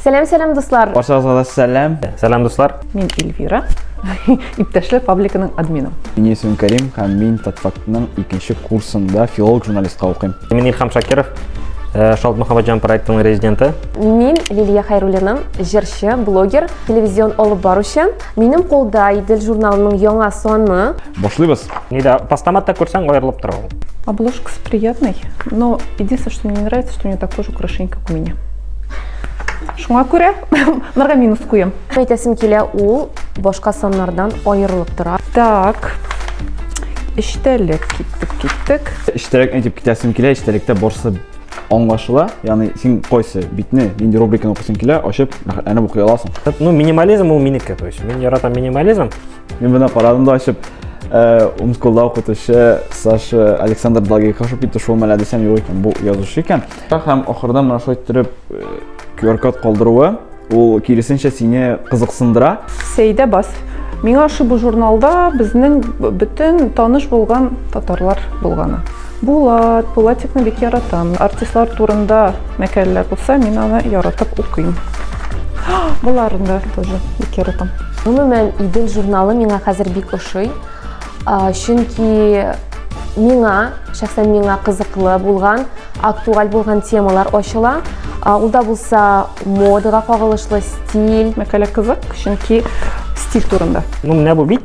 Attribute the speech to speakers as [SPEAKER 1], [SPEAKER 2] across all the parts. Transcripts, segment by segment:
[SPEAKER 1] Сәлам, сәлам, дуслар! Баршагызга да сәлам! Сәлам, дуслар! Мин Эльвира, иптәшләр пабликының админы. Мин исем Карим, һәм мин Татфактның икенче курсында филолог журналистка укыйм. Мин Илхам Шакиров, э, Шалт Мөхәммәтҗан проектының резиденты. Мин Лилия Хайруллина, җырчы, блогер, телевизион алып баручы. Минем кулда Идел журналының яңа саны. Башлыйбыз! Не, да, постаматта күрсәң аерылып тора ул. Обложкасы приятный, но единственное, что мне не нравится, что у нее такой же украшение, как у меня. Шуңа күрә морга минус куем. Әйтәсем килә, ул башка саннардан аерылып тора. Так. Эчтәлек киттек, киттек. Эчтәлек әйтеп китәсем килә, эчтәлектә барсы аңлашыла. Ягъни син кайсы битне, нинди рубриканы укысың килә, ачып, әнә укый аласың. Ну, минимализм ул минеке, то есть мин яратам минимализм. Мин бына карадым да ачып, Умсколда укытучы Саша Александр Благих ашып китте, шул мәлә дисәм юк икән, бу язучы икән. Һәм ахырда менә шулай иттереп QR-код калдыруы, ул киресенчә сине кызыксындыра. Сәйдә бас. Миңа ошибу журналда безнең бөтен таныш булган татарлар булганы. Булат, Булатикны бик яратам. Артистлар турында мәкәләләр булса, мин аны яратып укыйм. Боларын да тоже бик яратам. Гомумән, Идел журналы миңа хәзер бик ошый. Чөнки миңа, шәхсән миңа кызыклы булган, актуаль булган темалар ачыла. Ул да булса модага кагылышлы стиль. Мәкәлә кызык, чөнки стиль турында. Ну, менә бу бит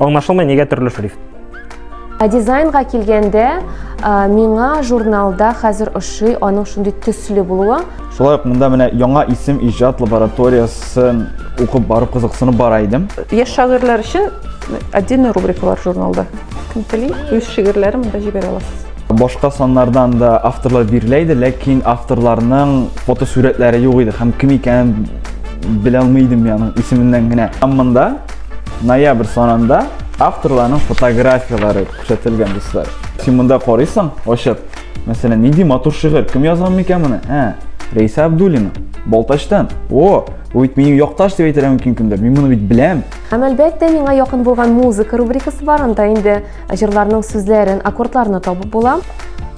[SPEAKER 1] Аңлашылмый нигә төрле шрифт? Ә дизайнга килгәндә, миңа журналда хәзер ошый аның шундый төсле булуы. Шулай ук монда менә яңа исем иҗат лабораториясен укып барып кызыксынып бара идем. Яшь шагыйрьләр өчен отдельный рубрика бар журналда. Кем тели, үз шигырьләрен монда җибәрә аласыз. Башка саннардан да авторлар бирелә иде, ләкин авторларның фотосурәтләре юк иде һәм кем икәнен белә алмый идем, яның исеменнән генә. Һәм монда Ноябрь санында авторларның фотографияләре күрсәтелгән, дуслар. Син монда карыйсың, ачып. Мәсәлән, нинди матур шигырь, кем язган микән моны? Ә, Рейса Абдуллина, Балтачтан. О, бу бит минем якташ дип әйтергә мөмкин кемдер. Мин моны бит беләм. Һәм әлбәттә, миңа якын булган музыка рубрикасы бар, анда инде җырларның сүзләрен, аккордларны табып була.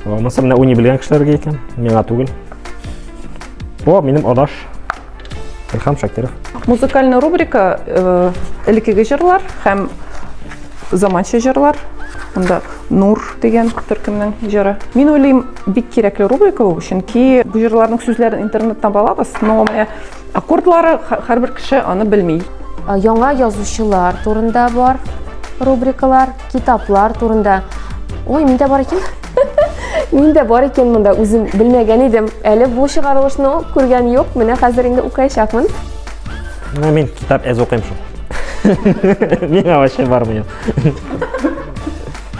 [SPEAKER 1] О, монысы менә уйный белгән кешеләргә икән, миңа түгел. О, минем адаш. Илхам Шакиров. Музыкальный рубрика э, элеккеге җырлар һәм заманча җырлар. Монда Нур дигән төркемнең җыры. Мин уйлыйм, бик кирәкле рубрика ул, чөнки бу җырларның сүзләрен интернеттан балабыз, но менә аккордлары һәрбер кеше аны белми. Э, яңа язучылар турында бар рубрикалар, китаплар турында. Ой, миндә бар икән. Мин дә бар икән монда үзем белмәгән идем. Әле бу чыгарылышны күргән юк. Менә хәзер инде укыячакмын. Менә мин китап әз укыйм шул. Миңа вообще бармый.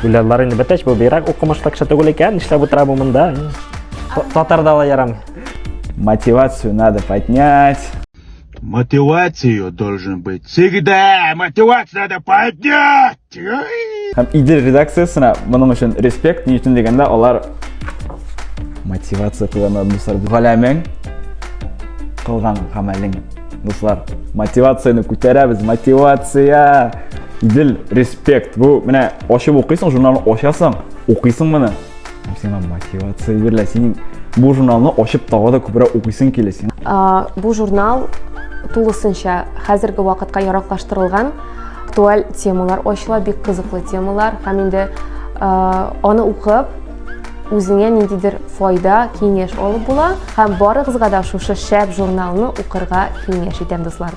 [SPEAKER 1] Гүләллар инде бетәч, бу бирәк укымышлы кеше түгел икән, нишләп утыра бу монда? Татарда ла ярамый. Мотивацию надо поднять. Мотивацию должен быть всегда. Мотивацию надо поднять. Һәм Идел редакциясенә моның өчен респект, ни өчен дигәндә, алар мотивация куйганнар, дуслар. Галәмең кылган гамәлең, дуслар. Мотивацияне күтәрәбез, мотивация! Идел, респект. Бу менә ачып укыйсың, журналны ачасың, укыйсың моны. Һәм сиңа мотивация бирелә, синең бу журналны ачып тагы да күбрәк укыйсың килә син. Бу журнал тулысынча хәзерге вакытка яраклаштырылган. Актуаль темалар ачыла, бик кызыклы темалар һәм инде аны укып, үзеңә ниндидер файда, киңәш алып була һәм барыгызга да шушы шәп журналны укырга киңәш итәм, дуслар.